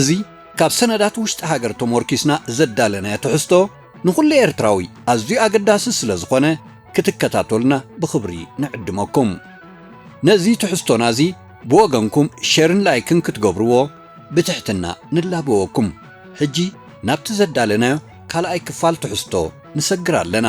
እዚ ካብ ሰነዳት ውሽጢ ሃገር ተሞርኪስና ዘዳለናዮ ትሕዝቶ ንኹሉ ኤርትራዊ ኣዝዩ ኣገዳሲ ስለዝኾነ ክትከታተሉና ብኽብሪ ንዕድመኩም። ነዚ ትሕዝቶና እዚ ብወገንኩም ሸርን ላይክን ክትገብርዎ ብትሕትና ንላበወኩም። ሕጂ ናብቲ ዘዳለናዮ ካልኣይ ክፋል ትሕዝቶ ንሰግር ኣለና።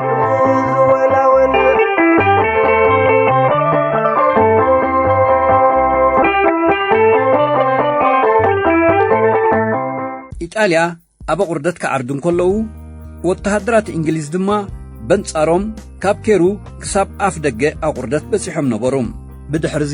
ኢጣልያ ኣብ ኣቝርደት ክዓርዱ እንከለዉ ወተሃደራት እንግሊዝ ድማ በንጻሮም ካብ ኬሩ ክሳብ ኣፍ ደገ ኣቝርደት በጺሖም ነበሩ ብድሕርዚ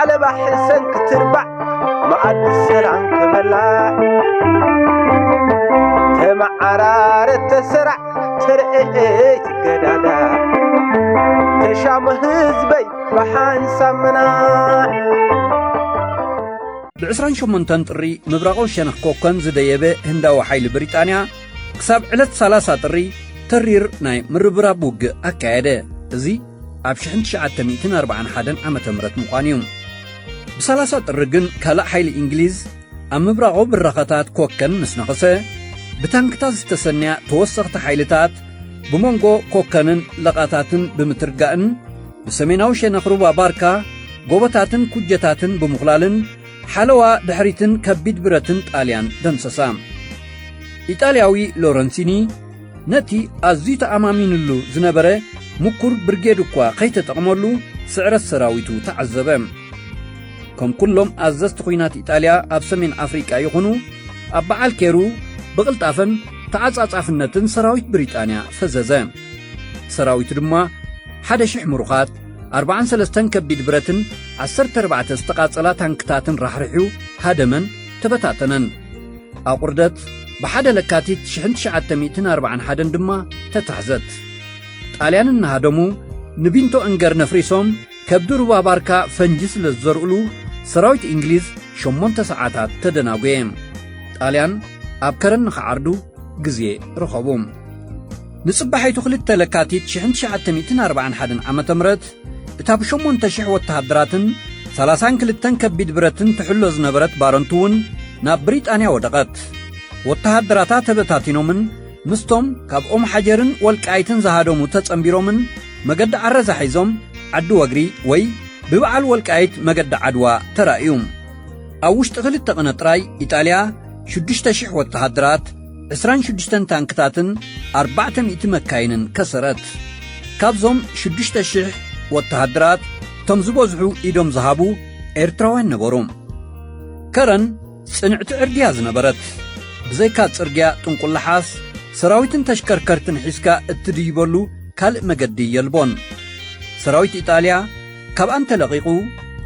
ዓለባ ሕሰን ክትርባዕ መኣዲ ሰላም ክበላ ተመዓራረት ተሰራዕ ተርእየት ገዳዳ ተሻሙ ህዝበይ ብሓንሳብ ምናዕ ብ28 ጥሪ ምብራቓዊ ሸነኽ ኮከን ዝደየበ ህንዳዊ ሓይሊ ብሪጣንያ ክሳብ ዕለት 30 ጥሪ ተሪር ናይ ምርብራብ ውግእ ኣካየደ እዚ ኣብ ሽሕን ትሽዓተ ሚእትን ኣርብዓን ሓደን ዓመተ ምህረት ምዃኑ እዩ። ብሳላሳ ጥሪ ግን ካልእ ሓይሊ እንግሊዝ ኣብ ምብራቓዊ ብራኸታት ኮከን ምስ ነኸሰ፣ ብታንክታት ዝተሰነያ ተወሰኽቲ ሓይልታት ብመንጎ ኮከንን ለቓታትን ብምትርጋእን ብሰሜናዊ ሸነኽ ሩባ ባርካ ጎቦታትን ኩጀታትን ብምኹላልን ሓለዋ ድሕሪትን ከቢድ ብረትን ጣልያን ደምሰሳ። ኢጣልያዊ ሎረንሲኒ ነቲ ኣዝዩ ተኣማሚንሉ ዝነበረ ምኩር ብርጌድ እኳ ከይተጠቕመሉ ስዕረት ሰራዊቱ ተዓዘበ። ከም ኩሎም ኣዘዝቲ ኹናት ኢጣልያ ኣብ ሰሜን ኣፍሪቃ ይኹኑ ኣብ በዓል ኬሩ ብቕልጣፈን ተዓጻጻፍነትን ሰራዊት ብሪጣንያ ፈዘዘ። ሰራዊቱ ድማ ሓደ ሽሕ ምሩኻት፣ ኣርብዓን ሰለስተን ከቢድ ብረትን ዓሰርተ ኣርባዕተ ዝተቓጸላ ታንክታትን ራሕሪሑ ሃደመን ተበታተነን። ኣቝርደት ብሓደ ለካቲት 1941 ድማ ተታሕዘት። ጣልያን እናሃደሙ ንቢንቶ እንገር ነፍሪሶም ከብዲ ሩባ ባርካ ፈንጂ ስለ ዝዘርኡሉ ሰራዊት እንግሊዝ ሸሞንተ ሰዓታት ተደናጐየ። ጣልያን ኣብ ከረን ንኽዓርዱ ግዜ ረኸቡ። ንጽባሒቱ ክልተ ለካቲት 1941 ዓ ም እታ ብሸሞንተ ሽሕ ወተሃደራትን ሰላሳን ክልተን ከቢድ ብረትን ትሕሎ ዝነበረት ባረንቱ እውን ናብ ብሪጣንያ ወደቐት። ወተሃደራታ ተበታቲኖምን ምስቶም ካብ ኦም ሓጀርን ወልቃይትን ዝሃደሙ ተጸንቢሮምን መገዲ ዓረዛ ሒዞም ዓዲ ወግሪ ወይ ብበዓል ወልቃይት መገዲ ዓድዋ ተራእዩ። ኣብ ውሽጢ ክልተ ቕነ ጥራይ ኢጣልያ ሽዱሽተ ሽሕ ወተሃደራት ዕስራን ሽዱሽተን ታንክታትን ኣርባዕተ ሚእቲ መካይንን ከሰረት። ካብዞም ሽዱሽተ ሽሕ ወተሃደራት እቶም ዝበዝሑ ኢዶም ዝሃቡ ኤርትራውያን ነበሩ። ከረን ጽንዕቲ ዕርድያ ዝነበረት፣ ብዘይካ ጽርግያ ጥንቁላሓስ ሰራዊትን ተሽከርከርትን ሒዝካ እትድይበሉ ካልእ መገዲ የልቦን። ሰራዊት ኢጣልያ ካብኣን ተለቒቑ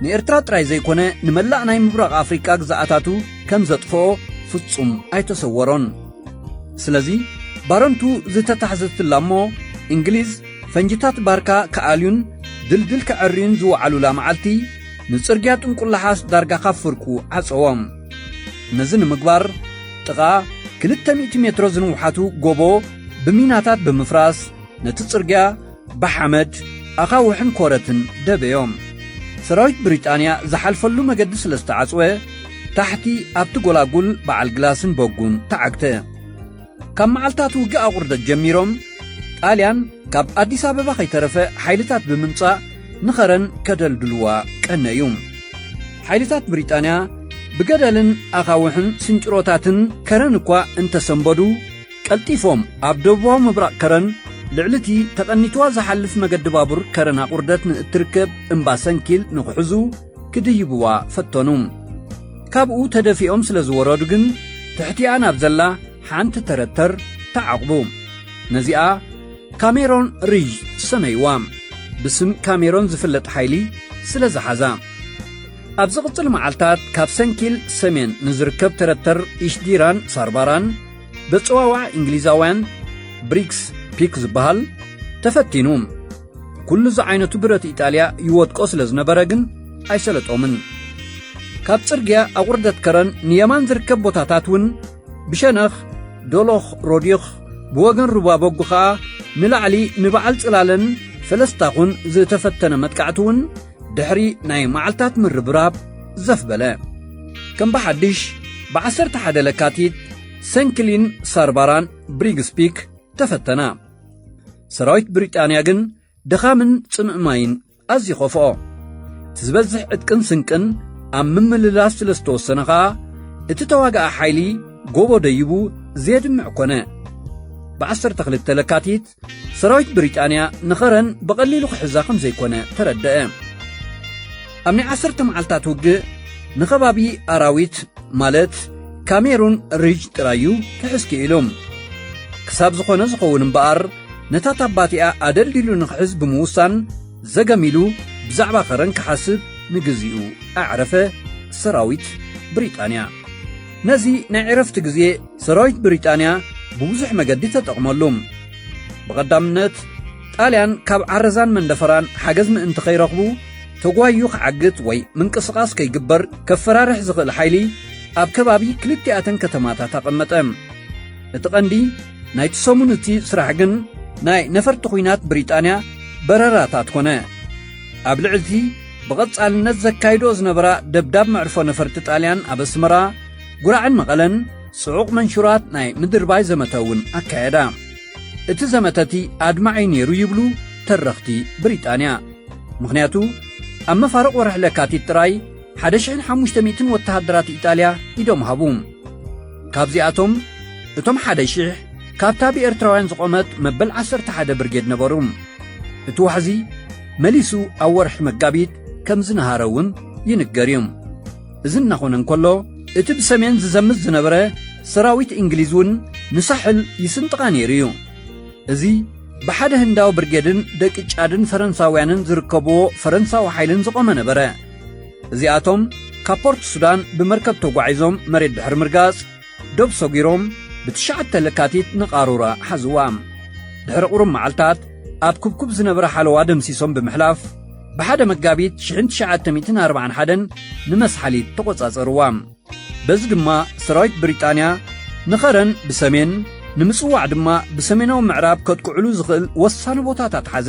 ንኤርትራ ጥራይ ዘይኮነ ንመላእ ናይ ምብራቕ ኣፍሪቃ ግዝኣታቱ ከም ዘጥፍኦ ፍጹም ኣይተሰወሮን። ስለዚ ባረንቱ ዝተታሕዘትላ እሞ እንግሊዝ ፈንጅታት ባርካ ክኣልዩን ድልድል ከዐርዩን ዝወዓሉላ መዓልቲ ንጽርግያ ጥንቁላሓስ ዳርጋ ካብ ፍርቁ ዓጸዎ። ነዚ ንምግባር ጥቓ ክልተ ሚእቲ ሜትሮ ዝንውሓቱ ጎቦ ብሚናታት ብምፍራስ ነቲ ጽርግያ ብሓመድ፣ ኣኻውሕን ኮረትን ደበዮም። ሰራዊት ብሪጣንያ ዝሓልፈሉ መገዲ ስለ ዝተዓጽወ፣ ታሕቲ ኣብቲ ጎላጉል በዓል ግላስን በጉን ተዓግተ። ካብ መዓልታት ውግእ ኣቑርደት ጀሚሮም፣ ጣልያን ካብ ኣዲስ ኣበባ ከይተረፈ ሓይልታት ብምምጻእ ንኸረን ከደልድልዋ ቀነዩ። ሓይልታት ብሪጣንያ ብገደልን ኣኻውሕን ስንጭሮታትን ከረን እኳ እንተሰንበዱ፣ ቀልጢፎም ኣብ ደቡባዊ ምብራቕ ከረን ልዕሊ እቲ ተቐኒትዋ ዝሓልፍ መገዲ ባቡር ከረን ኣቑርደት ንእትርከብ እምባ ሰንኪል ንኽሕዙ ክድይብዋ ፈተኑ። ካብኡ ተደፊኦም ስለ ዝወረዱ ግን ትሕቲኣ ናብ ዘላ ሓንቲ ተረተር ተዓቝቡ። ነዚኣ ካሜሮን ሪዥ ሰመይዋ፣ ብስም ካሜሮን ዝፍለጥ ሓይሊ ስለ ዝሓዛ። ኣብ ዝቕጽል መዓልታት ካብ ሰንኪል ሰሜን ንዝርከብ ተረተር ኢሽዲራን ሳርባራን በጽዋዋዕ እንግሊዛውያን ብሪክስ ፒክ ዝበሃል ተፈቲኑ ኩሉ ዝዓይነቱ ብረት ኢጣልያ ይወድቆ ስለ ዝነበረ ግን ኣይሰለጦምን ካብ ጽርግያ ኣቝርደት ከረን ንየማን ዝርከብ ቦታታት እውን ብሸነኽ ዶሎኽ ሮዲኽ ብወገን ሩባ በጉ ኸኣ ንላዕሊ ንበዓል ጽላለን ፈለስታኹን ዝተፈተነ መጥቃዕቲ እውን ድሕሪ ናይ መዓልታት ምርብራብ ዘፍ በለ ከም ብሓድሽ ብዓሰርተ ሓደ ለካቲት ሰንክሊን ሳርባራን ብሪግስፒክ ተፈተና ሰራዊት ብሪጣንያ ግን ድኻምን ጽምእ ማይን ኣዝዩ ኸፍኦ እቲ ዝበዝሕ ዕጥቅን ስንቅን ኣብ ምምልላስ ስለ ዝተወሰነ ኸኣ እቲ ተዋጋኢ ሓይሊ ጎቦ ደይቡ ዜድምዕ ኰነ ብ12 ለካቲት ሰራዊት ብሪጣንያ ንኸረን ብቐሊሉ ክሕዛ ከም ዘይኮነ ተረደአ። ኣብ ናይ ዓሰርተ መዓልታት ውግእ ንኸባቢ ኣራዊት ማለት ካሜሩን ሪጅ ጥራዩ ክሕዝ ክኢሉ ክሳብ ዝኾነ ዝኸውን እምበኣር ነታ ታባቲኣ ኣደልዲሉ ንኽሕዝ ብምውሳን ዘገሚሉ ብዛዕባ ኸረን ክሓስብ ንግዚኡ ኣዕረፈ ሰራዊት ብሪጣንያ ነዚ ናይ ዕረፍቲ ግዜ ሰራዊት ብሪጣንያ ብብዙሕ መገዲ ተጠቕመሉ። ብቐዳምነት፣ ጣልያን ካብ ዓረዛን መንደፈራን ሓገዝ ምእንቲ ከይረኽቡ ተጓይዩ ክዓግት ወይ ምንቅስቓስ ከይግበር ከፈራርሕ ዝኽእል ሓይሊ ኣብ ከባቢ ክልቲኣተን ከተማታት ኣቐመጠ። እቲ ቀንዲ ናይቲ ሰሙን እቲ ስራሕ ግን ናይ ነፈርቲ ኲናት ብሪጣንያ በረራታት ኮነ። ኣብ ልዕሊ'ቲ ብቐጻልነት ዘካይድኦ ዝነበራ ደብዳብ መዕርፎ ነፈርቲ ጣልያን ኣብ ኣስመራ፣ ጉራዕን መቐለን ጽዑቕ መንሹራት ናይ ምድርባይ ዘመተ እውን ኣካየዳ። እቲ ዘመተ እቲ ኣድማዒ ነይሩ ይብሉ ተረኽቲ ብሪጣንያ። ምኽንያቱ ኣብ መፋርቕ ወርሒ ለካቲት ጥራይ 1,500 ወተሃደራት ኢጣልያ ኢዶም ሃቡ። ካብዚኣቶም እቶም 1,000 ካብታ ብኤርትራውያን ዝቖመት መበል 11 ብርጌድ ነበሩ። እቲ ዋሕዚ መሊሱ ኣብ ወርሒ መጋቢት ከም ዝነሃረ እውን ይንገር እዩ። እዚ እናኾነ እንከሎ እቲ ብሰሜን ዝዘምት ዝነበረ ሰራዊት እንግሊዝ እውን ንሳሕል ይስንጥቓ ነይሩ እዩ። እዚ ብሓደ ህንዳዊ ብርጌድን ደቂ ጫድን ፈረንሳውያንን ዝርከብዎ ፈረንሳዊ ሓይልን ዝቖመ ነበረ። እዚኣቶም ካብ ፖርት ሱዳን ብመርከብ ተጓዒዞም መሬት ድሕሪ ምርጋጽ ዶብ ሰጒሮም ብትሽዓተ ለካቲት ንቓሩራ ሓዝዋ። ድሕሪ ቁሩብ መዓልታት ኣብ ኩብኩብ ዝነበረ ሓለዋ ደምሲሶም ብምሕላፍ ብሓደ መጋቢት ሽሕን ትሽዓተ ሚእትን ኣርብዓን ሓደን ንመስሓሊት ተቖጻጸርዋ። በዚ ድማ ሰራዊት ብሪጣንያ ንኸረን ብሰሜን ንምጽዋዕ ድማ ብሰሜናዊ ምዕራብ ከጥቅዕሉ ዝኽእል ወሳኒ ቦታታት ሓዘ።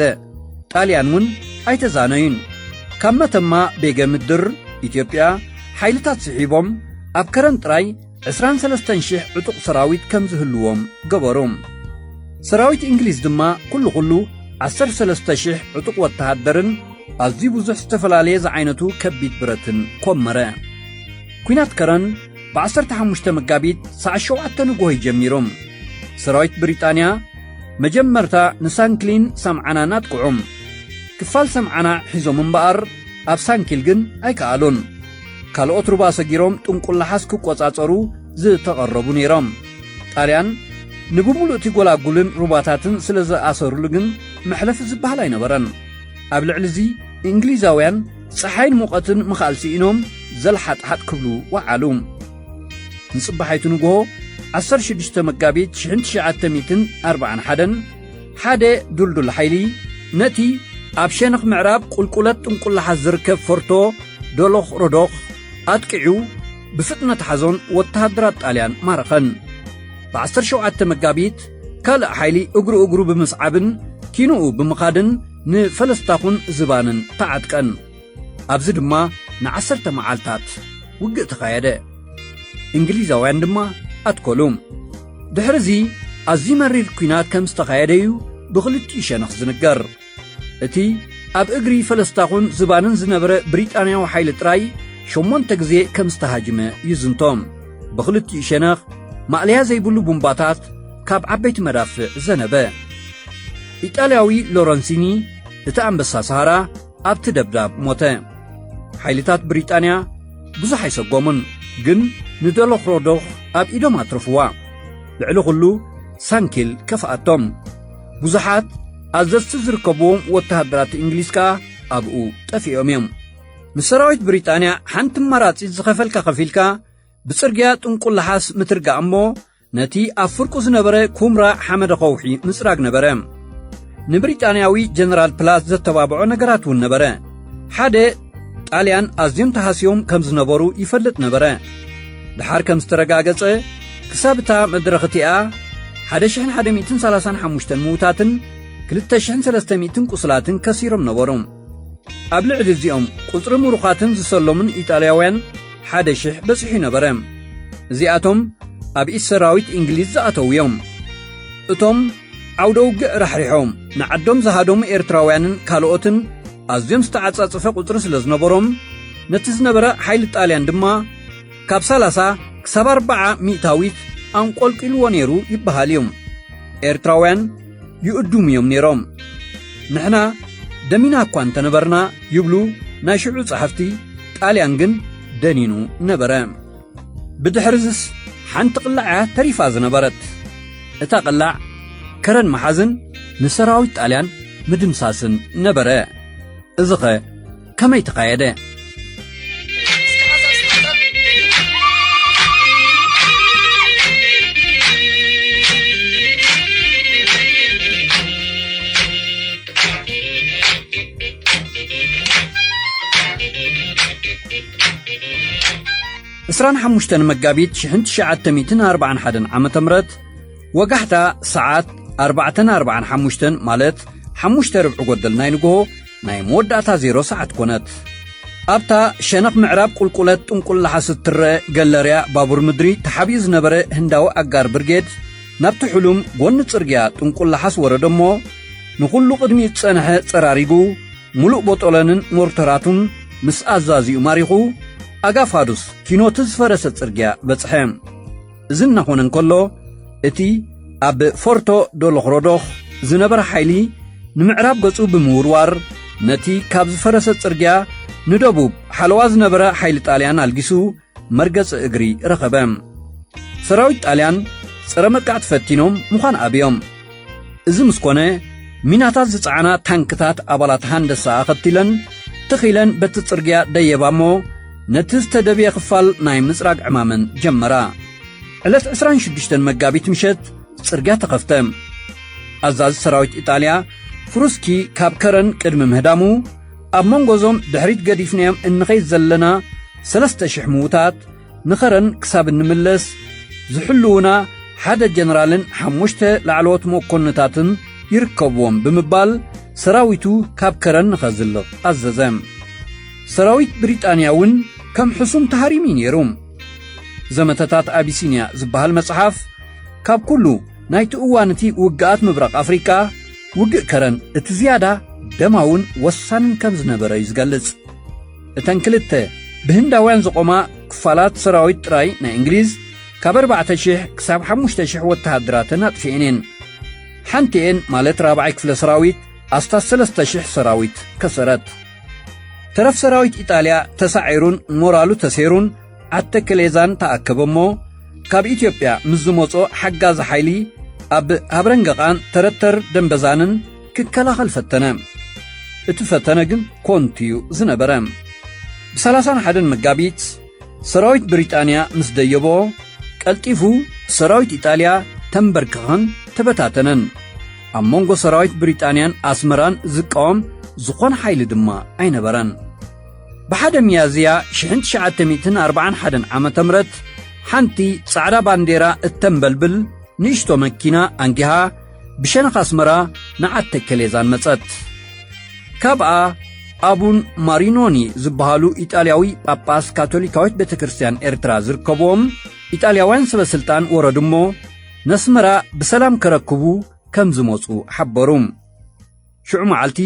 ጣልያን እውን ኣይተዛነዩን። ካብ መተማ ቤገ ምድር፣ ኢትዮጵያ፣ ሓይልታት ስሒቦም ኣብ ከረን ጥራይ ዕስራን ሰለስተን ሽሕ ዕጡቕ ሰራዊት ከም ዝህልዎም ገበሩ። ሰራዊት እንግሊዝ ድማ ኩሉ ኩሉ ዓሰርተ ሰለስተ ሽሕ ዕጡቕ ወተሃደርን ኣዝዩ ብዙሕ ዝተፈላለየ ዝዓይነቱ ከቢድ ብረትን ኮመረ። ኲናት ከረን ብዓሰርተ ሓሙሽተ መጋቢት ሰዓት ሸውዓተ ንግሆ'ዩ ጀሚሩ። ሰራዊት ብሪጣንያ መጀመርታ ንሳንክሊን ሰምዓናን ኣጥቅዑ። ክፋል ሰምዓና ሒዞም እምበኣር፣ ኣብ ሳንኪል ግን ኣይከኣሉን። ካልኦት ሩባ ሰጊሮም ጥንቁላሓስ ክቆጻጸሩ ዝተቐረቡ ነይሮም። ጣልያን ንብምሉእ እቲ ጎላጉልን ሩባታትን ስለ ዝኣሰሩሉ ግን መሕለፊ ዝበሃል ኣይነበረን። ኣብ ልዕሊ እዚ እንግሊዛውያን ጸሓይን ሙቐትን ምኽኣል ስኢኖም ዘልሓጥሓጥ ክብሉ ወዓሉ። ንጽባሒቱ ንግሆ ዓሰርተ ሽዱሽተ መጋቢት ሽሕን ትሽዓተ ሚእትን ኣርብዓን ሓደን ሓደ ዱልዱል ሓይሊ ነቲ ኣብ ሸነኽ ምዕራብ ቁልቁለት ጥንቁላሓት ዝርከብ ፎርቶ ዶሎኽ ሮዶኽ ኣጥቂዑ ብፍጥነት ሓዞን ወተሃደራት ጣልያን ማረኸን ብ17 መጋቢት ካልእ ሓይሊ እግሩ እግሩ ብምስዓብን ኪንኡ ብምኻድን ንፈለስታኹን ዝባንን ተዓጥቀን ኣብዚ ድማ ንዓሰርተ መዓልታት ውግእ ተኻየደ እንግሊዛውያን ድማ ኣትኮሉ ድሕሪ እዚ ኣዝዩ መሪር ኲናት ከም ዝተኻየደ እዩ ብኽልቲኡ ሸነኽ ዝንገር እቲ ኣብ እግሪ ፈለስታኹን ዝባንን ዝነበረ ብሪጣንያዊ ሓይሊ ጥራይ ሸሞንተ ግዜ ከም ዝተሃጅመ ይዝንቶም ብኽልቲኡ ሸነኽ ማእለያ ዘይብሉ ቡምባታት ካብ ዓበይቲ መዳፍዕ ዘነበ ኢጣልያዊ ሎረንሲኒ እቲ ኣንበሳ ሰሃራ ኣብቲ ደብዳብ ሞተ። ሓይልታት ብሪጣንያ ብዙሕ ኣይሰጎሙን፣ ግን ንደሎኽሮዶኽ ኣብ ኢዶም ኣትረፍዋ። ልዕሊ ዅሉ ሳንኪል ከፍኣቶም። ብዙሓት ኣዘዝቲ ዝርከብዎም ወተሃደራት እንግሊዝ ከኣ ኣብኡ ጠፊኦም እዮም። ንሰራዊት ብሪጣንያ ሓንቲ ኣማራጺት ዝኸፈልካ ከፊልካ ብጽርግያ ጥንቁላሓስ ምትርጋእ እሞ ነቲ ኣብ ፍርቁ ዝነበረ ኩምራ ሓመደ ኸውሒ ምጽራግ ነበረ። ንብሪጣንያዊ ጀነራል ፕላዝ ዘተባብዖ ነገራት እውን ነበረ። ሓደ ጣልያን ኣዝዮም ተሃስዮም ከም ዝነበሩ ይፈልጥ ነበረ። ድሓር ከም ዝተረጋገጸ ክሳብ እታ መድረኽ እቲኣ 1135 ምዉታትን 2300 ቁስላትን ከሲሮም ነበሩ። ኣብ ልዕሊ እዚኦም ቁጽሪ ምሩኻትን ዝሰሎምን ኢጣልያውያን ሓደ ሽሕ በጺሑ ነበረ። እዚኣቶም ኣብ ኢድ ሰራዊት እንግሊዝ ዝኣተዉ እዮም። እቶም ዓውደ ውግእ ራሕሪሖም ንዓዶም ዝሃደሙ ኤርትራውያንን ካልኦትን ኣዝዮም ዝተዓጻጸፈ ቁጽሪ ስለ ዝነበሮም ነቲ ዝነበረ ሓይሊ ጣልያን ድማ ካብ ሰላሳ ክሳብ ኣርባዓ ሚእታዊት ኣንቈልቊልዎ ነይሩ ይበሃል እዩ። ኤርትራውያን ይእዱሙ እዮም ነይሮም። ንሕና ደሚና እኳ እንተ ነበርና ይብሉ ናይ ሽዑ ጸሓፍቲ፣ ጣልያን ግን ደኒኑ ነበረ። ብድሕርዝስ ሓንቲ ቅላዕ እያ ተሪፋ ዝነበረት። እታ ቅላዕ ከረን ምሓዝን ንሰራዊት ጣልያን ምድምሳስን ነበረ። እዚኸ ከመይ ተኻየደ? ዕስራን ሓሙሽተን መጋቢት ሽሕን ትሽዓተ ሚእትን ኣርብዓን ሓደን ዓመተ ምረት ወጋሕታ ሰዓት ኣርባዕተን ኣርብዓን ሓሙሽተን ማለት ሓሙሽተ ርብዒ ጎደል ናይ ንግሆ ናይ መወዳእታ ዜሮ ሰዓት ኮነት። ኣብታ ሸነኽ ምዕራብ ቁልቁለት ጥንቁል ነሓስ እትረኣ ገለርያ ባቡር ምድሪ ተሓቢኡ ዝነበረ ህንዳዊ ኣጋር ብርጌድ ናብቲ ሕሉም ጎኒ ጽርግያ ጥንቁል ነሓስ ወረደ እሞ ንኹሉ ቅድሚኡ ዝጸነሐ ጸራሪጉ ምሉእ ቦጦሎንን ሞርተራቱን ምስ ኣዛዚኡ ማሪኹ ኣጋ ፋዱስ ኪኖቲ ዝፈረሰ ጽርግያ በጽሐ። እዚ እናኾነ እንከሎ እቲ ኣብ ፎርቶ ዶሎኽሮዶኽ ዝነበረ ሓይሊ ንምዕራብ ገጹ ብምውርዋር ነቲ ካብ ዝፈረሰ ጽርግያ ንደቡብ ሓለዋ ዝነበረ ሓይሊ ጣልያን ኣልጊሱ መርገጺ እግሪ ረኸበ። ሰራዊት ጣልያን ጸረ መጥቃዕቲ ፈቲኖም ምዃን ኣብዮም። እዚ ምስ ኮነ ሚናታት ዝጸዓና ታንክታት ኣባላት ሃንደሳ ኣኸቲለን ትኽ ኢለን በቲ ጽርግያ ደየባ እሞ ነቲ ዝተደብየ ክፋል ናይ ምጽራግ ዕማመን ጀመራ ዕለት 26 መጋቢት ምሸት ጽርግያ ተኸፍተ ኣዛዚ ሰራዊት ኢጣልያ ፍሩስኪ ካብ ከረን ቅድሚ ምህዳሙ ኣብ መንጎ እዞም ድሕሪት ገዲፍናዮም እንኸይድ ዘለና ሰለስተ ሽሕ ምዉታት ንኸረን ክሳብ እንምለስ ዝሕልዉና ሓደ ጀነራልን ሓሙሽተ ላዕለዎት መኮንታትን ይርከብዎም ብምባል ሰራዊቱ ካብ ከረን ንኸዝልቕ ኣዘዘ። ሰራዊት ብሪጣንያ እውን ከም ሕሱም ተሃሪሙ እዩ ነይሩ። ዘመተታት ኣቢሲንያ ዝበሃል መጽሓፍ ካብ ኩሉ ናይቲ እዋን እቲ ውግኣት ምብራቕ ኣፍሪቃ ውግእ ከረን እቲ ዝያዳ ደማውን ወሳንን ከም ዝነበረ እዩ ዝገልጽ። እተን ክልተ ብህንዳውያን ዝቖማ ክፋላት ሰራዊት ጥራይ ናይ እንግሊዝ ካብ ኣርባዕተ ሽሕ ክሳብ ሓሙሽተ ሽሕ ወተሃደራተን ኣጥፊኤን እየን ሓንቲኤን ማለት ራብዓይ ክፍለ ሰራዊት ኣስታት ሰለስተ ሽሕ ሰራዊት ከሰረት ተረፍ ሰራዊት ኢጣልያ ተሳዒሩን ሞራሉ ተሴሩን ኣተክሌዛን ተኣከበ እሞ ካብ ኢትዮጵያ ምስ ዝመጾ ሓጋዚ ሓይሊ ኣብ ሃብረንገቓን ተረተር ደንበዛንን ክከላኸል ፈተነ እቲ ፈተነ ግን ኮንቱ እዩ ዝነበረ ብሰላሳን ሓደን መጋቢት ሰራዊት ብሪጣንያ ምስ ደየቦ ቀልጢፉ ሰራዊት ኢጣልያ ተንበርክኸን ተበታተነን ኣብ መንጎ ሰራዊት ብሪጣንያን ኣስመራን ዝቃወም ዝኾነ ሓይሊ ድማ ኣይነበረን ብሓደ ሚያዝያ ሽሕን ትሽዓተ ሚእትን ኣርብዓን ሓደን ዓመተ ምረት ሓንቲ ጻዕዳ ባንዴራ እተንበልብል ንእሽቶ መኪና ኣንጊሃ ብሸነኽ ኣስመራ ንዓተ ከሌዛን መጸት። ካብኣ ኣቡን ማሪኖኒ ዝበሃሉ ኢጣልያዊ ጳጳስ ካቶሊካዊት ቤተ ክርስትያን ኤርትራ ዝርከብዎም ኢጣልያውያን ሰበ ስልጣን ወረዱ እሞ ነስመራ ብሰላም ከረክቡ ከም ዝመጹ ሓበሩ። ሽዑ መዓልቲ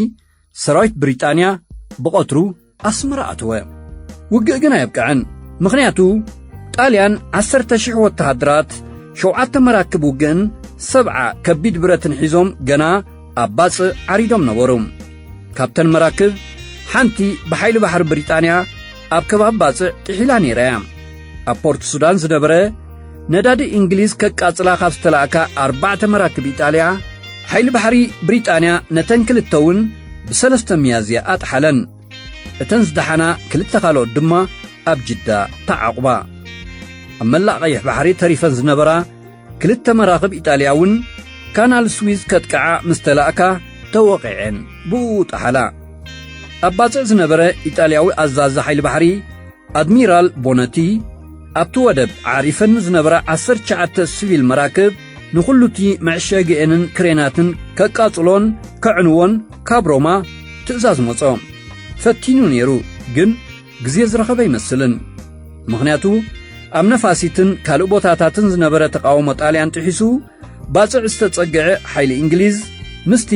ሰራዊት ብሪጣንያ ብቐትሩ ኣስመራ ኣተወ። ውግእ ግን ኣየብቅዐን። ምኽንያቱ ጣልያን ዓሰርተ ሽሕ ወተሃደራት፣ ሸውዓተ መራክብ ውግእን ሰብዓ ከቢድ ብረትን ሒዞም ገና ኣብ ባጽእ ዓሪዶም ነበሩ። ካብተን መራክብ ሓንቲ ብሓይሊ ባሕሪ ብሪጣንያ ኣብ ከባቢ ባጽዕ ጥሒላ ነይራ እያ። ኣብ ፖርት ሱዳን ዝነበረ ነዳዲ እንግሊዝ ከቃጽላ ካብ ዝተላእካ ኣርባዕተ መራክብ ኢጣልያ ሓይሊ ባሕሪ ብሪጣንያ ነተን ክልተ እውን ብሰለስተ ሚያዝያ ኣጥሓለን እተን ዝደሓና ክልተ ካልኦት ድማ ኣብ ጅዳ ተዓቝባ ኣብ መላእ ቀይሕ ባሕሪ ተሪፈን ዝነበራ ክልተ መራኽብ ኢጣልያ እውን ካናል ስዊዝ ከጥቅዓ ምስ ተላእካ ተወቒዐን ብኡ ጠሓላ ኣብ ባጽዕ ዝነበረ ኢጣልያዊ ኣዛዚ ሓይሊ ባሕሪ ኣድሚራል ቦነቲ፣ ኣብቲ ወደብ ኣዕሪፈን ንዝነበራ ዓሰርተ ትሽዓተ ስቪል መራክብ ንዅሉ'ቲ መዕሸጊኤንን ክሬናትን ከቃጽሎን ከዕንዎን ካብ ሮማ ትእዛዝ መጾ። ፈቲኑ ነይሩ፣ ግን ግዜ ዝረኸበ ኣይመስልን። ምኽንያቱ ኣብ ነፋሲትን ካልእ ቦታታትን ዝነበረ ተቓውሞ ጣልያን ጥሒሱ፣ ባጽዕ ዝተጸግዐ ሓይሊ እንግሊዝ ምስቲ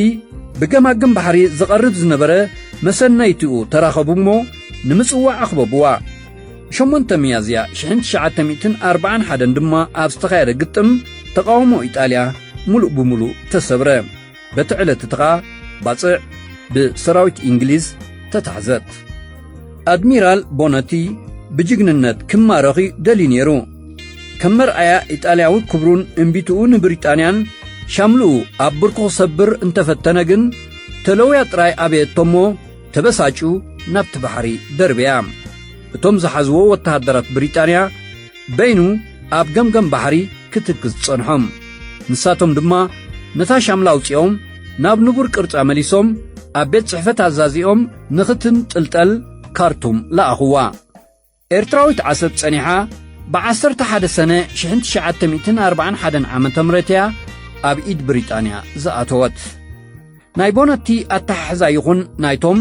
ብገማግም ባሕሪ ዝቐርብ ዝነበረ መሰነይትኡ ተራኸቡ እሞ ንምጽዋዕ ኣኽበብዋ። ሸሞንተ ሚያዝያ ሽሕን ትሽዓተ ሚእትን ኣርብዓን ሓደን ድማ ኣብ ዝተኻየደ ግጥም ተቓውሞ ኢጣልያ ምሉእ ብምሉእ ተሰብረ። በቲ ዕለት እቲ ኸኣ ባጽዕ ብሰራዊት እንግሊዝ ተታሕዘት። ኣድሚራል ቦነቲ ብጅግንነት ክማረኽ እዩ ደልዩ ነይሩ። ከም መርኣያ ኢጣልያዊ ክብሩን እምቢትኡ ንብሪጣንያን ሻምልኡ ኣብ ብርኩ ክሰብር እንተፈተነ ግን ተለውያ ጥራይ ኣበየቶ እሞ ተበሳጭዩ ናብቲ ባሕሪ ደርበያ። እቶም ዝሓዝዎ ወተሃደራት ብሪጣንያ በይኑ ኣብ ገምገም ባሕሪ ክትክዝ ዝጸንሖም። ንሳቶም ድማ ነታ ሻምላ ኣውጺኦም ናብ ንቡር ቅርጻ መሊሶም ኣብ ቤት ጽሕፈት ኣዛዚኦም ንኽትንጥልጠል ካርቱም ለኣኹዋ። ኤርትራዊት ዓሰብ ጸኒሓ ብ ዓሰርተ ሓደ ሰነ ሽሕን ትሽዓተ ሚእትን ኣርባዓን ሓደን ዓመተ ምህረት እያ ኣብ ኢድ ብሪጣንያ ዝኣተወት። ናይ ቦነቲ ኣተሓሕዛ ይኹን ናይቶም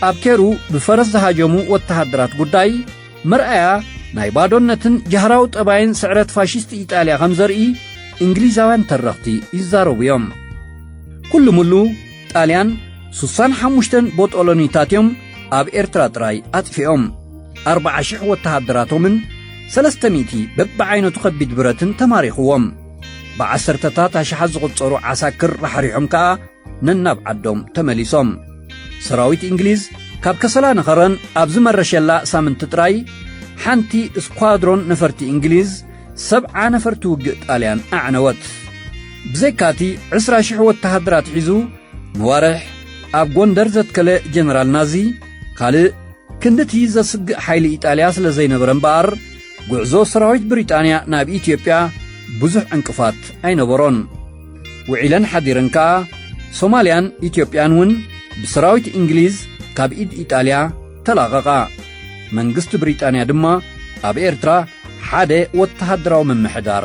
ኣብ ኬሩ ብፈረስ ዝሃጀሙ ወተሃደራት ጉዳይ መርኣያ ናይ ባዶነትን ጃህራዊ ጠባይን ስዕረት ፋሽስት ኢጣልያ ከም ዘርኢ እንግሊዛውያን ተረኽቲ ይዛረቡ እዮም ኩሉ ምሉ ጣልያን ስሳን ሓሙሽተን ቦጦሎኒታት እዮም ኣብ ኤርትራ ጥራይ ኣጥፊኦም ኣርብዓ ሽሕ ወተሃደራቶምን ሰለስተ ሚእቲ በብዓይነቱ ከቢድ ብረትን ተማሪኽዎም ብዓሰርተታት ኣሽሓት ዝቝጸሩ ዓሳክር ራሕሪሖም ከኣ ነናብ ዓዶም ተመሊሶም። ሰራዊት እንግሊዝ ካብ ከሰላ ንኸረን ኣብ ዝመረሸላ ሳምንቲ ጥራይ ሓንቲ ስኳድሮን ነፈርቲ እንግሊዝ ሰብዓ ነፈርቲ ውግእ ጣልያን ኣዕነወት። ብዘይካ እቲ ዕስራ ሽሕ ወተሃደራት ሒዙ ንዋርሕ ኣብ ጎንደር ዘትከለ ጀነራል ናዚ ካልእ ክንድቲ ዘስግእ ሓይሊ ኢጣልያ ስለ ዘይነበረ እምበኣር ጉዕዞ ሰራዊት ብሪጣንያ ናብ ኢትዮጵያ ብዙሕ ዕንቅፋት ኣይነበሮን። ውዒለን ሓዲረን ከኣ ሶማልያን ኢትዮጵያን እውን ብሰራዊት እንግሊዝ ካብ ኢድ ኢጣልያ ተላቐቓ። መንግስቲ ብሪጣንያ ድማ ኣብ ኤርትራ ሓደ ወተሃደራዊ ምምሕዳር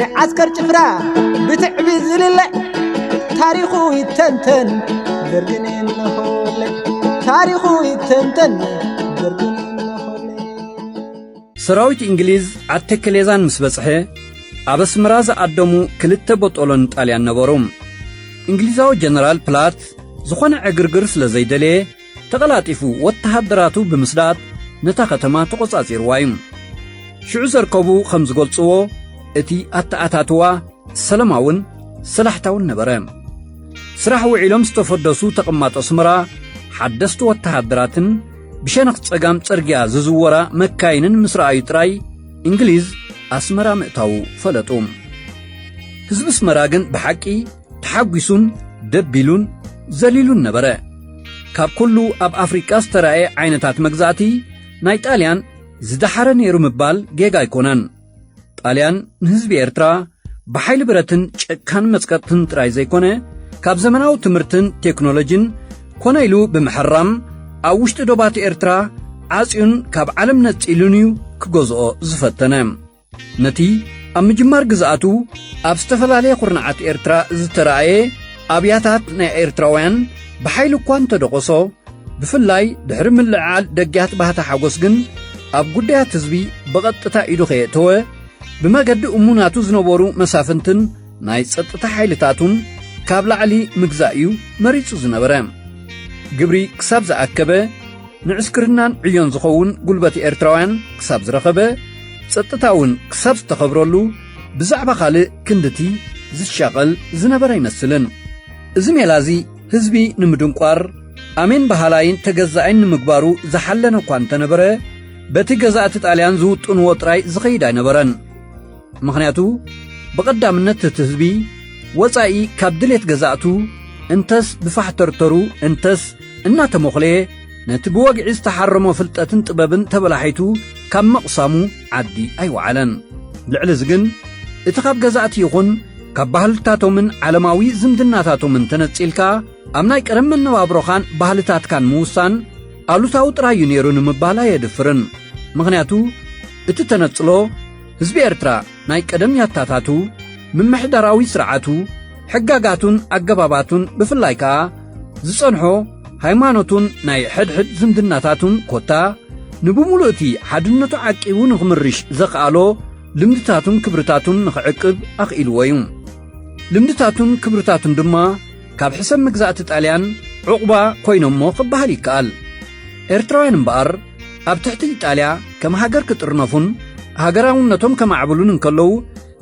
ንዓስከር ጭፍራ ብትዕቢ ዝልለ ታሪኹ ይተንተን ደርግን እንሆለ ታሪኹ ይተንተን ደርግን ሰራዊት እንግሊዝ ዓድ ተከሌዛን ምስ በጽሐ ኣብ ኣስመራ ዝኣደሙ ክልተ ቦጦሎን ጣልያን ነበሩ። እንግሊዛዊ ጀነራል ፕላት ዝኾነ ዕግርግር ስለ ዘይደለየ ተቐላጢፉ ወተሃደራቱ ብምስዳድ ነታ ከተማ ተቖጻጺርዋ እዩ። ሽዑ ዘርከቡ ከም ዝገልጽዎ፣ እቲ ኣተኣታትዋ ሰለማውን ሰላሕታውን ነበረ። ስራሕ ውዒሎም ዝተፈደሱ ተቐማጦ ኣስመራ ሓደስቲ ወተሃደራትን ብሸነኽ ጸጋም ጽርግያ ዝዝወራ መካይንን ምስ ረኣዩ ጥራይ እንግሊዝ ኣስመራ ምእታዉ ፈለጡ። ህዝቢ ኣስመራ ግን ብሓቂ ተሓጒሱን ደቢሉን ዘሊሉን ነበረ። ካብ ኩሉ ኣብ ኣፍሪቃ ዝተራእየ ዓይነታት መግዛእቲ ናይ ጣልያን ዝደሓረ ነይሩ ምባል ጌጋ ኣይኮነን። ጣልያን ንህዝቢ ኤርትራ ብሓይሊ ብረትን ጨካን መጽቀጥትን ጥራይ ዘይኮነ ካብ ዘመናዊ ትምህርትን ቴክኖሎጅን ኮነ ኢሉ ብምሕራም ኣብ ውሽጢ ዶባት ኤርትራ ዓጽዩን ካብ ዓለም ነጺሉን እዩ ክገዝኦ ዝፈተነ። ነቲ ኣብ ምጅማር ግዝኣቱ ኣብ ዝተፈላለየ ኹርናዓት ኤርትራ ዝተረኣየ ኣብያታት ናይ ኤርትራውያን ብሓይሊ እኳ እንተደቖሶ ብፍላይ ድሕሪ ምልዕዓል ደጊያት ባህታ ሓጎስ ግን ኣብ ጉዳያት ህዝቢ ብቐጥታ ኢዱ ከየእተወ ብመገዲ እሙናቱ ዝነበሩ መሳፍንትን ናይ ጸጥታ ሓይልታቱን ካብ ላዕሊ ምግዛእ እዩ መሪጹ ዝነበረ ግብሪ ክሳብ ዝኣከበ ንዕስክርናን ዕዮን ዝኸውን ጉልበት ኤርትራውያን ክሳብ ዝረኸበ ጸጥታ እውን ክሳብ ዝተኸብረሉ ብዛዕባ ካልእ ክንድቲ ዝሻቐል ዝነበረ ኣይመስልን እዚ ሜላ እዚ ህዝቢ ንምድንቋር ኣሜን በሃላይን ተገዛኣይን ንምግባሩ ዝሓለነ እኳ እንተነበረ በቲ ገዛእቲ ጣልያን ዝውጥንዎ ጥራይ ዝኸይድ ኣይነበረን ምኽንያቱ ብቐዳምነት እቲ ህዝቢ ወጻኢ ካብ ድሌት ገዛእቱ እንተስ ብፋሕተርተሩ እንተስ እናተሞኽለየ ነቲ ብወግዒ ዝተሓረሞ ፍልጠትን ጥበብን ተበላሒቱ ካብ ምቕሳሙ ዓዲ ኣይወዓለን ልዕሊ እዚ ግን እቲ ካብ ገዛእቲ ይኹን ካብ ባህልታቶምን ዓለማዊ ዝምድናታቶምን ተነጺልካ ኣብ ናይ ቀደም መነባብሮኻን ባህልታትካን ምውሳን ኣሉታዊ ጥራይ እዩ ነይሩ ንምባል ኣየድፍርን ምኽንያቱ እቲ ተነጽሎ ህዝቢ ኤርትራ ናይ ቀደም ያታታቱ፣ ምምሕዳራዊ ስርዓቱ፣ ሕጋጋቱን ኣገባባቱን ብፍላይ ከኣ ዝጸንሖ ሃይማኖቱን ናይ ሕድሕድ ዝምድናታቱን ኮታ ንብምሉእ እቲ ሓድነቱ ዓቂቡ ንኽምርሽ ዘኽኣሎ ልምድታቱን ክብርታቱን ንኽዕቅብ ኣኽኢልዎ እዩ። ልምድታቱን ክብርታቱን ድማ ካብ ሕሰም መግዛእቲ ጣልያን ዑቕባ ኮይኖሞ ክበሃል ይከኣል። ኤርትራውያን እምበኣር ኣብ ትሕቲ ኢጣልያ ከም ሃገር ክጥርነፉን ሃገራውነቶም ከማዕብሉን እንከለዉ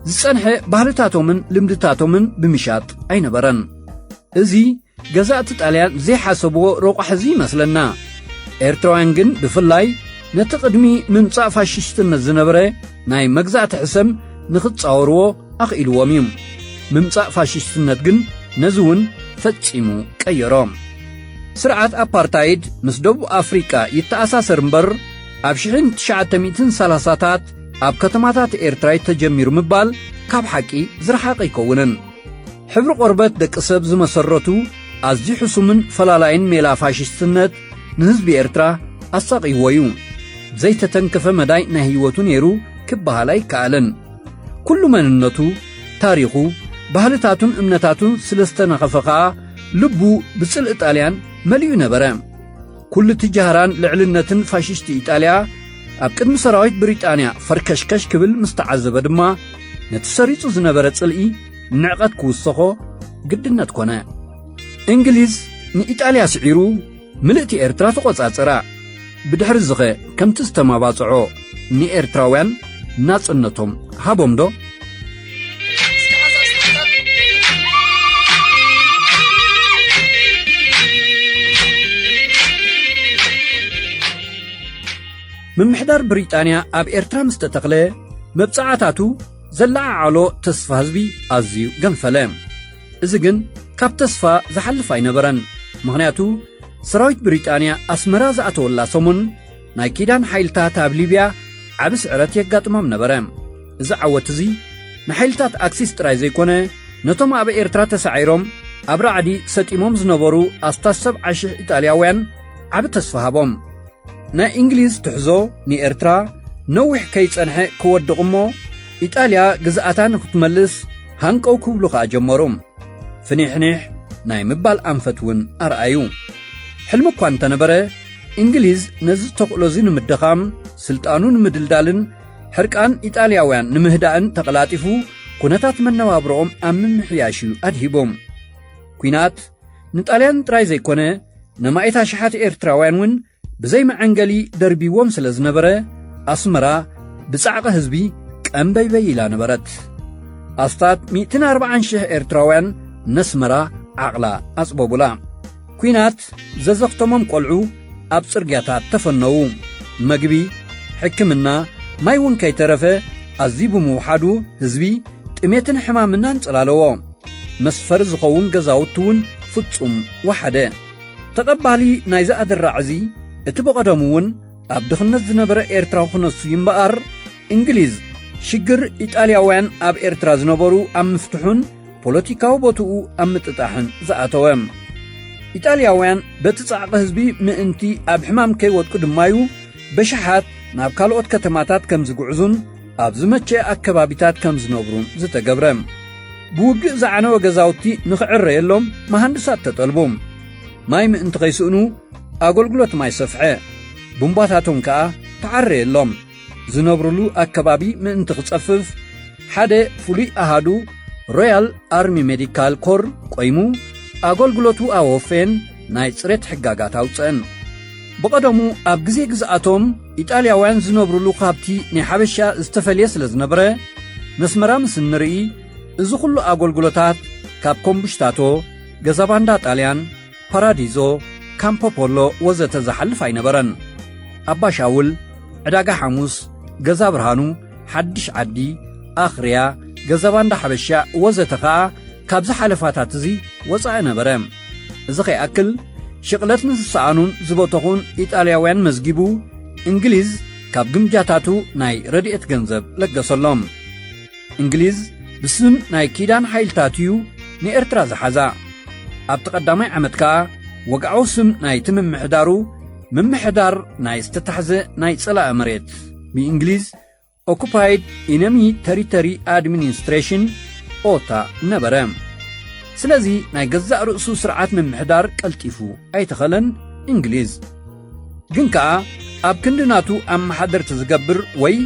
ዝጸንሐ ባህልታቶምን ልምድታቶምን ብምሻጥ ኣይነበረን። እዚ ገዛእቲ ጣልያን ዘይሓሰብዎ ረቋሕ'ዚ ይመስለና። ኤርትራውያን ግን ብፍላይ ነቲ ቅድሚ ምምጻእ ፋሽስትነት ዝነበረ ናይ መግዛእቲ ሕሰም ንኽጻወርዎ ኣኽኢልዎም እዩ። ምምጻእ ፋሽስትነት ግን ነዚ እውን ፈጺሙ ቀየሮ። ስርዓት ኣፓርታይድ ምስ ደቡብ ኣፍሪቃ ይተኣሳሰር እምበር ኣብ ሽሕን ትሽዓተ ሚእትን ሰላሳታት ኣብ ከተማታት ኤርትራ እዩ ተጀሚሩ ምባል ካብ ሓቂ ዝረሓቐ ኣይከውንን። ሕብሪ ቆርበት ደቂ ሰብ ዝመሰረቱ ኣዝዩ ሕሱምን ፈላላይን ሜላ ፋሽስትነት ንህዝቢ ኤርትራ ኣሳቕይዎ እዩ። ዘይተተንከፈ መዳይ ናይ ህይወቱ ነይሩ ክበሃል ኣይከኣልን። ኩሉ መንነቱ፣ ታሪኹ፣ ባህልታቱን እምነታቱን ስለ ዝተነኸፈ ኸኣ ልቡ ብጽልኢ ጣልያን መሊኡ ነበረ። ኩሉ እቲ ጃህራን ልዕልነትን ፋሽስቲ ኢጣልያ ኣብ ቅድሚ ሰራዊት ብሪጣንያ ፈርከሽከሽ ክብል ምስ ተዓዘበ ድማ ነቲ ሰሪጹ ዝነበረ ጽልኢ ንዕቐት ክውሰኾ ግድነት ኮነ። እንግሊዝ ንኢጣልያ ስዒሩ ምልእቲ ኤርትራ ተቖጻጸራ። ብድሕርዚኸ ከምቲ ዝተማባጽዖ ንኤርትራውያን ናጽነቶም ሃቦምዶ? ምምሕዳር ብሪጣንያ ኣብ ኤርትራ ምስ ተተኽለ፣ መብጽዓታቱ ዘለዓዓሎ ተስፋ ህዝቢ ኣዝዩ ገንፈለ። እዚ ግን ካብ ተስፋ ዝሓልፍ ኣይነበረን። ምኽንያቱ ሰራዊት ብሪጣንያ ኣስመራ ዝኣተወላ ሰሙን ናይ ኪዳን ሓይልታት ኣብ ሊብያ ዓቢ ስዕረት የጋጥሞም ነበረ። እዚ ዓወት እዚ ንሓይልታት ኣክሲስ ጥራይ ዘይኮነ ነቶም ኣብ ኤርትራ ተሳዒሮም ኣብ ራዕዲ ሰጢሞም ዝነበሩ ኣስታት ሰብዓ ሽሕ ኢጣልያውያን ዓቢ ተስፋ ሃቦም ናይ እንግሊዝ ትሕዞ ንኤርትራ ነዊሕ ከይጸንሐ ክወድቕ እሞ ኢጣልያ ግዝኣታ ንኽትመልስ ሃንቀው ክብሉ ኸኣ ጀመሩ። ፍኒሕኒሕ ናይ ምባል ኣንፈት እውን ኣርኣዩ። ሕልሚ እኳ እንተነበረ እንግሊዝ ነዚ ተኽእሎ እዚ ንምድኻም፣ ስልጣኑ ንምድልዳልን ሕርቃን ኢጣልያውያን ንምህዳእን ተቐላጢፉ ኩነታት መነባብሮኦም ኣብ ምምሕያሽ እዩ ኣድሂቡ። ኲናት ንጣልያን ጥራይ ዘይኮነ ነማኢት ኣሽሓት ኤርትራውያን እውን ብዘይ መዐንገሊ ደርቢዎም ስለ ዝነበረ ኣስመራ ብጻዕቒ ህዝቢ ቀምበይበይ ኢላ ነበረት። ኣስታት ሚእትን ኣርብዓን ሽሕ ኤርትራውያን ነስመራ ዓቕላ ኣጽበቡላ። ኲናት ዘዘኽተሞም ቈልዑ ኣብ ጽርግያታት ተፈነዉ። መግቢ፣ ሕክምና፣ ማይ እውን ከይተረፈ ኣዝዩ ብምውሓዱ ህዝቢ ጥሜትን ሕማምን ኣንጸላለዎ። መስፈሪ ዝኸውን ገዛውቲ እውን ፍጹም ወሓደ። ተቐባሊ ናይዚ ኣደራዕ እዚ እቲ ብቐደሙ እውን ኣብ ድኽነት ዝነበረ ኤርትራዊ ክነሱ እዩ እምበኣር እንግሊዝ ሽግር ኢጣልያውያን ኣብ ኤርትራ ዝነበሩ ኣብ ምፍትሑን ፖለቲካዊ ቦትኡ ኣብ ምጥጣሕን ዝኣተወ ኢጣልያውያን በቲ ጻዕቂ ህዝቢ ምእንቲ ኣብ ሕማም ከይወድቁ ድማዩ በሽሓት ናብ ካልኦት ከተማታት ከም ዝግዕዙን ኣብ ዝመቸ ኣከባቢታት ከም ዝነብሩን ዝተገብረ። ብውግእ ዝዓነወ ገዛውቲ ንኽዕረየሎም መሃንድሳት ተጠልቡ። ማይ ምእንቲ ኸይስእኑ ኣገልግሎት ማይ ሰፍሐ። ቡምባታቶም ከኣ ተዓረየሎም። ዝነብሩሉ ኣከባቢ ምእንቲ ክጸፍፍ ሓደ ፍሉይ ኣሃዱ ሮያል ኣርሚ ሜዲካል ኮር ቆይሙ ኣገልግሎቱ ኣወፈየን ናይ ጽሬት ሕጋጋት ኣውጸእን። ብቐደሙ ኣብ ግዜ ግዝኣቶም ኢጣልያውያን ዝነብሩሉ ካብቲ ናይ ሓበሻ ዝተፈልየ ስለ ዝነበረ ነስመራ ምስ እንርኢ እዚ ዅሉ ኣገልግሎታት ካብ ኮምቡሽታቶ፣ ገዛባንዳ ጣልያን፣ ፓራዲዞ፣ ካምፖ ፖሎ ወዘተ ዝሓልፍ ኣይነበረን። ኣባ ሻውል፣ ዕዳጋ ሓሙስ፣ ገዛ ብርሃኑ፣ ሓድሽ ዓዲ፣ ኣኽርያ፣ ገዛባንዳ ሓበሻ ወዘተ ኸኣ ካብዚ ሓለፋታት እዚ ወጻኢ ነበረ። እዚ ከይኣክል ሽቕለት ንዝሰኣኑን ዝበተኹን ኢጣልያውያን መዝጊቡ እንግሊዝ ካብ ግምጃታቱ ናይ ረድኤት ገንዘብ ለገሰሎም እንግሊዝ ብስም ናይ ኪዳን ሓይልታት እዩ ንኤርትራ ዝሓዛ ኣብቲ ቀዳማይ ዓመት ከኣ ወግዓዊ ስም ናይቲ ምምሕዳሩ ምምሕዳር ናይ ዝተታሕዘ ናይ ጸላኢ መሬት ብእንግሊዝ ኦኩፓይድ ኢነሚ ተሪተሪ ኣድሚኒስትሬሽን ኦታ ነበረ ስለዚ ናይ ገዛእ ርእሱ ስርዓት ምምሕዳር ቀልጢፉ ኣይተኸለን እንግሊዝ ግን ከኣ ኣብ ክንዲ ናቱ ኣመሓደርቲ ዝገብር ወይ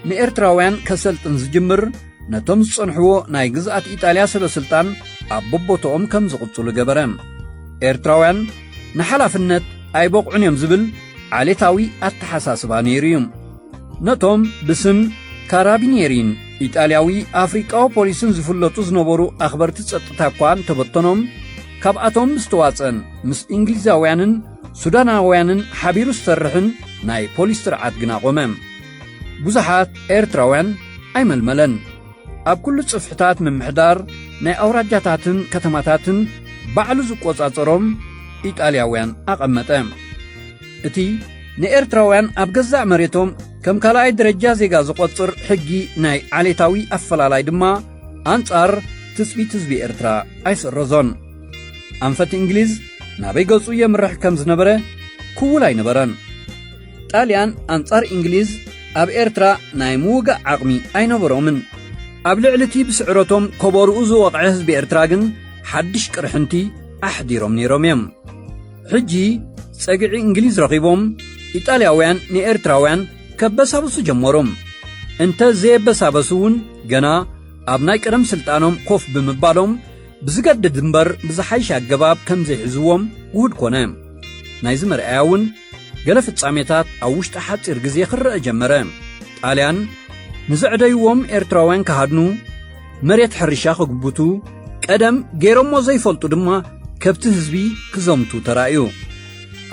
ንኤርትራውያን ከሰልጥን ዝጅምር ነቶም ዝጸንሕዎ ናይ ግዝኣት ኢጣልያ ሰበስልጣን ኣብ ቦቦቶኦም ከም ዝቕጽሉ ገበረ ኤርትራውያን ንሓላፍነት ኣይበቕዑን እዮም ዝብል ዓሌታዊ ኣተሓሳስባ ነይሩ እዩ ነቶም ብስም ካራቢኔሪን ኢጣልያዊ ኣፍሪቃዊ ፖሊስን ዝፍለጡ ዝነበሩ ኣኽበርቲ ጸጥታ እኳ እንተበተኖም ካብኣቶም ምስ ተዋጸን ምስ እንግሊዛውያንን ሱዳናውያንን ሓቢሩ ዝሰርሕን ናይ ፖሊስ ስርዓት ግና ቆመ ብዙሓት ኤርትራውያን ኣይመልመለን ኣብ ኩሉ ጽፍሕታት ምምሕዳር ናይ ኣውራጃታትን ከተማታትን ባዕሉ ዝቈጻጸሮም ኢጣልያውያን ኣቐመጠ እቲ ንኤርትራውያን ኣብ ገዛእ መሬቶም ከም ካልኣይ ደረጃ ዜጋ ዝቖጽር ሕጊ ናይ ዓሌታዊ ኣፈላላይ ድማ ኣንጻር ትጽቢት ህዝቢ ኤርትራ ኣይስረዞን። ኣንፈት እንግሊዝ ናበይ ገጹ የምርሕ ከም ዝነበረ ክውል ኣይነበረን። ጣልያን ኣንጻር እንግሊዝ ኣብ ኤርትራ ናይ ምውጋእ ዓቕሚ ኣይነበሮምን። ኣብ ልዕሊ እቲ ብስዕረቶም ከበርኡ ዝወቕዐ ህዝቢ ኤርትራ ግን ሓድሽ ቅርሕንቲ ኣሕዲሮም ነይሮም እዮም። ሕጂ ጸግዒ እንግሊዝ ረኺቦም ኢጣልያውያን ንኤርትራውያን ከበሳብሱ ጀመሮም እንተ ዘየበሳበሱ እውን ገና ኣብ ናይ ቀደም ስልጣኖም ኮፍ ብምባሎም ብዝገድድ እምበር ብዝሓይሽ ኣገባብ ከም ዘይሕዝዎም ውሁድ ኮነ ናይዚ መርኣያ እውን ገለ ፍጻሜታት ኣብ ውሽጢ ሓፂር ግዜ ክረአ ጀመረ ጣልያን ንዘዕደይዎም ኤርትራውያን ክሃድኑ መሬት ሕርሻ ክግብቱ ቀደም ገይሮሞ ዘይፈልጡ ድማ ከብቲ ህዝቢ ክዘምቱ ተራእዩ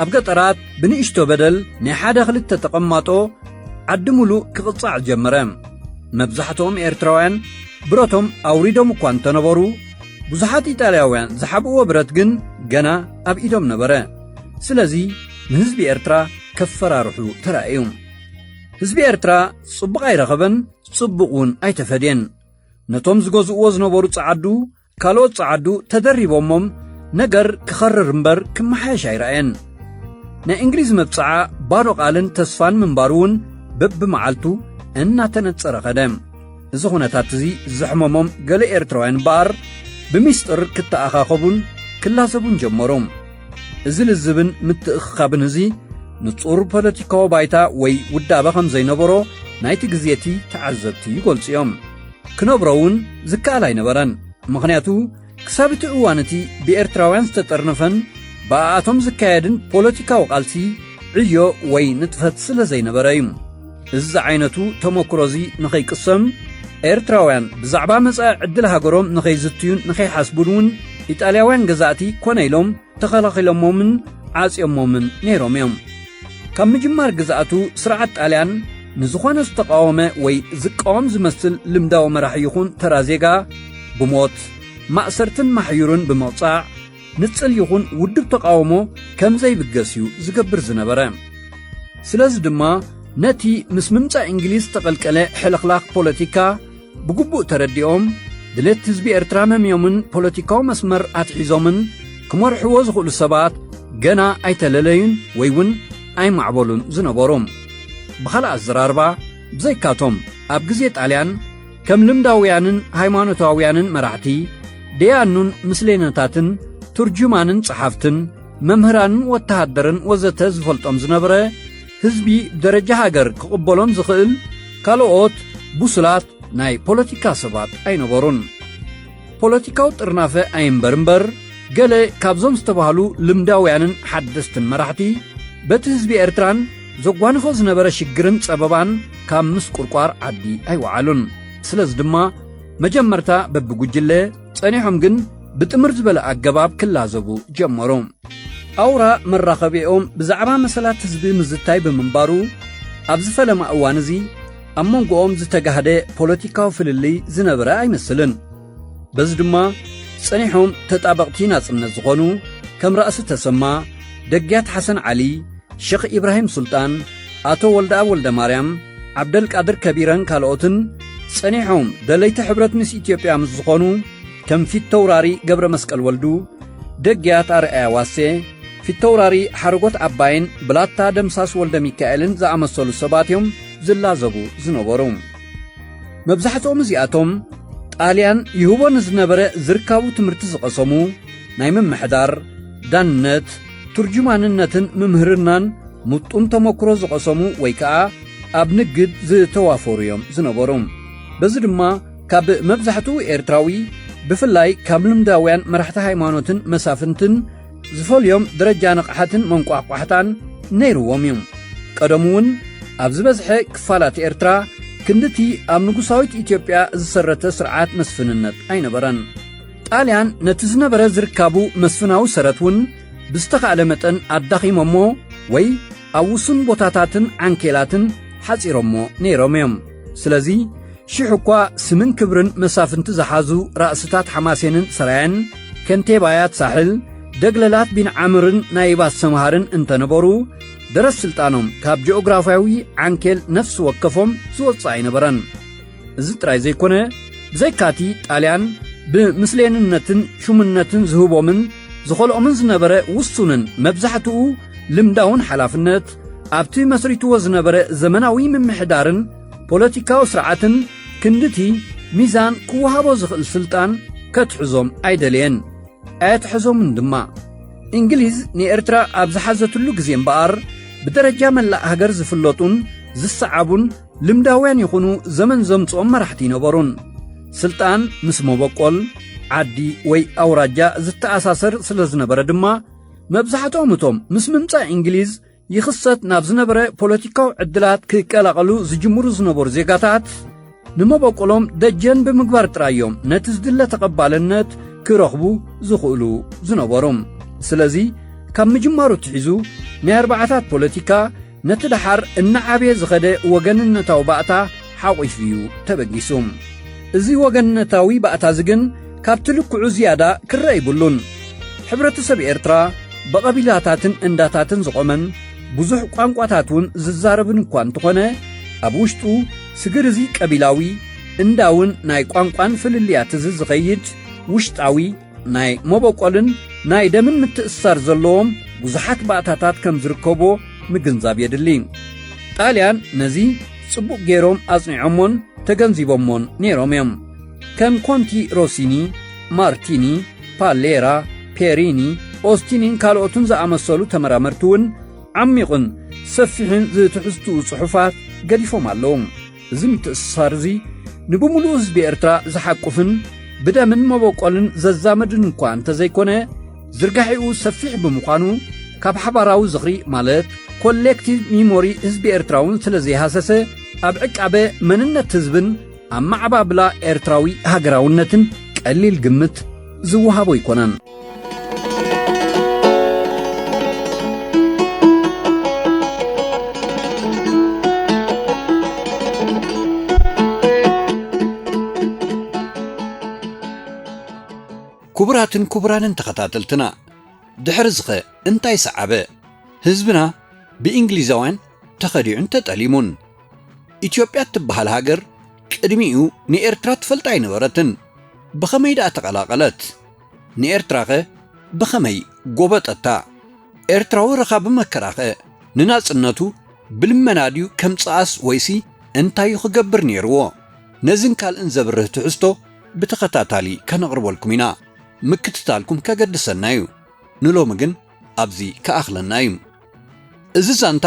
ኣብ ገጠራት ብንእሽቶ በደል ናይ ሓደ ክልተ ተቐማጦ ዓዲ ምሉእ ክቕጻዕ ጀመረ መብዛሕትኦም ኤርትራውያን ብረቶም ኣውሪዶም እኳ እንተነበሩ ብዙሓት ኢጣልያውያን ዝሓብእዎ ብረት ግን ገና ኣብ ኢዶም ነበረ ስለዚ ንህዝቢ ኤርትራ ከፈራርሑ ተራእዩ ህዝቢ ኤርትራ ጽቡቕ ኣይረኸበን ጽቡቕ እውን ኣይተፈድየን። ነቶም ዝገዝእዎ ዝነበሩ ጸዓዱ ካልኦት ጸዓዱ ተደሪቦሞም ነገር ክኸርር እምበር ክመሓየሽ ኣይረኣየን። ናይ እንግሊዝ መብጽዓ ባዶ ቓልን ተስፋን ምንባሩ እውን በብመዓልቱ እናተነጸረ ኸደ። እዚ ዅነታት እዚ ዘሕመሞም ገለ ኤርትራውያን እምበኣር ብሚስጥር ክተኣኻኸቡን ክላዘቡን ጀመሩ። እዚ ልዝብን ምትእኽኻብን እዚ ንጹር ፖለቲካዊ ባይታ ወይ ውዳበ ከም ዘይነበሮ ናይቲ ግዜቲ ተዓዘብቲ ይገልጹ እዮም ክነብሮ እውን ዝከኣል ኣይነበረን ምኽንያቱ ክሳብ እቲ እዋን እቲ ብኤርትራውያን ዝተጠርነፈን ብኣኣቶም ዝካየድን ፖለቲካዊ ቃልሲ ዕዮ ወይ ንጥፈት ስለ ዘይነበረ እዩ እዚ ዝዓይነቱ ተመክሮዚ ንኸይቅሰም ኤርትራውያን ብዛዕባ መጻኢ ዕድል ሃገሮም ንኸይዝትዩን ንኸይሓስቡን እውን ኢጣልያውያን ገዛእቲ ኮነ ኢሎም ተኸላኺሎሞምን ዓጽዮሞምን ነይሮም እዮም። ካብ ምጅማር ግዝኣቱ ስርዓት ጣልያን ንዝኾነ ዝተቓወመ ወይ ዝቃወም ዝመስል ልምዳዊ መራሒ ይኹን ተራ ዜጋ ብሞት፣ ማእሰርትን ማሕዩርን ብምቕጻዕ፣ ንጽል ይኹን ውድብ ተቓውሞ ከም ዘይብገስ እዩ ዝገብር ዝነበረ። ስለዚ ድማ ነቲ ምስ ምምጻእ እንግሊዝ ዝተቐልቀለ ሕልኽላኽ ፖለቲካ ብግቡእ ተረዲኦም ድሌት ህዝቢ ኤርትራ መምዮምን ፖለቲካዊ መስመር ኣትሒዞምን ክመርሕዎ ዝኽእሉ ሰባት ገና ኣይተለለዩን ወይ እውን ኣይማዕበሉን ዝነበሩ። ብኻልእ ኣዘራርባ ብዘይካቶም ኣብ ግዜ ጣልያን ከም ልምዳውያንን ሃይማኖታውያንን መራሕቲ ደያኑን ምስሌነታትን ትርጁማንን ጸሓፍትን መምህራንን ወተሃደርን ወዘተ ዝፈልጦም ዝነበረ ህዝቢ ደረጃ ሃገር ክቕበሎም ዝኽእል ካልኦት ብሱላት ናይ ፖለቲካ ሰባት ኣይነበሩን። ፖለቲካዊ ጥርናፈ ኣይንበር እምበር ገለ ካብዞም ዝተባህሉ ልምዳውያንን ሓደስትን መራሕቲ በቲ ህዝቢ ኤርትራን ዘጓንፎ ዝነበረ ሽግርን ጸበባን ካብ ምስቁርቋር ዓዲ ኣይወዓሉን ስለዚ ድማ መጀመርታ በብጉጅለ ጸኒሖም ግን ብጥምር ዝበለ ኣገባብ ክላዘቡ ጀመሩ ኣውራ መራኸቢኦም ብዛዕባ መሰላት ህዝቢ ምዝታይ ብምንባሩ ኣብዚ ፈለማ እዋን እዚ ኣብ መንጎኦም ዝተጋህደ ፖለቲካዊ ፍልልይ ዝነበረ ኣይመስልን። በዚ ድማ ጸኒሖም ተጣበቕቲ ናጽነት ዝኾኑ ከም ራእሲ ተሰማ፣ ደግያት ሓሰን ዓሊ፣ ሸኽ ኢብራሂም ሱልጣን፣ ኣቶ ወልደኣብ ወልደማርያም፣ ዓብደልቃድር ከቢረን ካልኦትን ጸኒሖም ደለይቲ ሕብረት ምስ ኢትዮጵያ ምስ ዝኾኑ ከም ፊተውራሪ ገብረ መስቀል ወልዱ፣ ደግያት ኣርኣያ ዋሴ፣ ፊተውራሪ ሓረጎት ዓባይን ብላታ ደምሳስ ወልደሚካኤልን ዝኣመሰሉ ሰባት እዮም ዝላዘቡ ዝነበሩ። መብዛሕትኦም እዚኣቶም ጣልያን ይህቦ ንዝነበረ ዝርካቡ ትምህርቲ ዝቐሰሙ ናይ ምምሕዳር፣ ዳንነት፣ ትርጁማንነትን ምምህርናን ምጡን ተመክሮ ዝቐሰሙ ወይ ከኣ ኣብ ንግድ ዝተዋፈሩ እዮም ዝነበሩ። በዚ ድማ ካብ መብዛሕትኡ ኤርትራዊ ብፍላይ ካብ ልምዳውያን መራሕቲ ሃይማኖትን መሳፍንትን ዝፈልዮም ደረጃ ንቕሓትን መንቋሕቋሕታን ነይርዎም እዩ። ቀደሙ እውን ኣብ ዝበዝሐ ክፋላት ኤርትራ ክንድቲ ኣብ ንጉሳዊት ኢትዮጵያ ዝሰረተ ስርዓት መስፍንነት ኣይነበረን። ጣልያን ነቲ ዝነበረ ዝርካቡ መስፍናዊ ሰረት እውን ብዝተኻእለ መጠን ኣዳኺሞሞ ወይ ኣብ ውሱን ቦታታትን ዓንኬላትን ሓጺሮሞ ነይሮም እዮም። ስለዚ ሽሕ እኳ ስምን ክብርን መሳፍንቲ ዝሓዙ ራእስታት ሓማሴንን ሰራየን ከንቴባያት ሳሕል ደግለላት ቢንዓምርን ናይባት ሰምሃርን እንተነበሩ ደረስ ስልጣኖም ካብ ጂኦግራፍያዊ ዓንኬል ነፍሲ ወከፎም ዝወጽእ ኣይነበረን እዚ ጥራይ ዘይኮነ ብዘይካቲ ጣልያን ብምስሌንነትን ሹምነትን ዝህቦምን ዝኸልኦምን ዝነበረ ውሱንን መብዛሕትኡ ልምዳውን ሓላፍነት ኣብቲ መስሪትዎ ዝነበረ ዘመናዊ ምምሕዳርን ፖለቲካዊ ስርዓትን ክንድቲ ሚዛን ክወሃቦ ዝኽእል ስልጣን ከትሕዞም ኣይደለየን ኣየትሐዞምን ድማ እንግሊዝ ንኤርትራ ኣብ ዝሓዘትሉ ግዜ እምበኣር ብደረጃ መላእ ሃገር ዝፍለጡን ዝሰዓቡን ልምዳውያን ይኹኑ ዘመን ዘምጽኦም መራሕቲ ይነበሩን ስልጣን ምስ መበቆል ዓዲ ወይ ኣውራጃ ዝተኣሳሰር ስለ ዝነበረ ድማ መብዛሕትኦም እቶም ምስ ምምጻእ እንግሊዝ ይኽሰት ናብ ዝነበረ ፖለቲካዊ ዕድላት ክቀላቐሉ ዝጅምሩ ዝነበሩ ዜጋታት ንመበቆሎም ደጀን ብምግባር ጥራይ እዮም ነቲ ዝድለ ተቐባልነት ክረኽቡ ዝኽእሉ ዝነበሮም ስለዚ ካብ ምጅማሩ ትሒዙ ናይ ኣርባዓታት ፖለቲካ ነቲ ደሓር እናዓበየ ዝኸደ ወገንነታዊ ባእታ ሓቝፉ እዩ ተበጊሱ። እዚ ወገንነታዊ ባእታ'ዚ ግን ካብቲ ልክዑ ዝያዳ ክረኣ ይብሉን። ሕብረተሰብ ኤርትራ ብቐቢላታትን እንዳታትን ዝቖመን ብዙሕ ቋንቋታት እውን ዝዛረብን እኳ እንተኾነ፣ ኣብ ውሽጡ ስግር እዚ ቀቢላዊ፣ እንዳውን ናይ ቋንቋን ፍልልያት'ዚ ዝኸይድ ውሽጣዊ፣ ናይ መበቆልን ናይ ደምን ምትእስሳር ዘለዎም ብዙሓት ባእታታት ከም ዝርከቦ ምግንዛብ የድሊ። ጣልያን ነዚ ጽቡቕ ገይሮም ኣጽኒዖሞን ተገንዚቦሞን ነይሮም እዮም። ከም ኮንቲ ሮሲኒ፣ ማርቲኒ፣ ፓሌራ፣ ፔሪኒ፣ ኦስቲኒን ካልኦትን ዝኣመሰሉ ተመራመርቲ እውን ዓሚቝን ሰፊሕን ዝትሕዝትኡ ጽሑፋት ገዲፎም ኣለዉ። እዚ ምትእስሳር እዚ ንብምሉኡ ህዝቢ ኤርትራ ዝሓቁፍን ብደምን መበቆልን ዘዛመድን እኳ እንተዘይኮነ ዝርጋሒኡ ሰፊሕ ብምዃኑ ካብ ሓባራዊ ዝኽሪ ማለት ኮሌክቲቭ ሚሞሪ ህዝቢ ኤርትራውን ስለ ዘይሃሰሰ ኣብ ዕቃበ መንነት ህዝብን ኣመዓባብላ ኤርትራዊ ሃገራውነትን ቀሊል ግምት ዝወሃቦ ኣይኮነን። ክቡራትን ክቡራንን ተኸታተልትና ድሕሪ ዝኸ እንታይ ሰዓበ? ህዝብና ብእንግሊዛውያን ተኸዲዑን ተጠሊሙን። ኢትዮጵያ እትበሃል ሃገር ቅድሚኡ ንኤርትራ ትፈልጣ ኣይነበረትን። ብኸመይ ደኣ ተቐላቐለት? ንኤርትራኸ ብኸመይ ጎበጠታ? ኤርትራዊ ረኻቢ መከራኸ ንናጽነቱ ብልመና ድዩ ከምጽኣስ ወይሲ እንታይ እዩ ክገብር ነይርዎ? ነዝን ካልእን ዘብርህ ትሕዝቶ ብተኸታታሊ ከነቕርበልኩም ኢና። ምክትታልኩም ከገድሰና እዩ። ንሎሚ ግን ኣብዚ ክኣኽለና እዩ። እዚ ዛንታ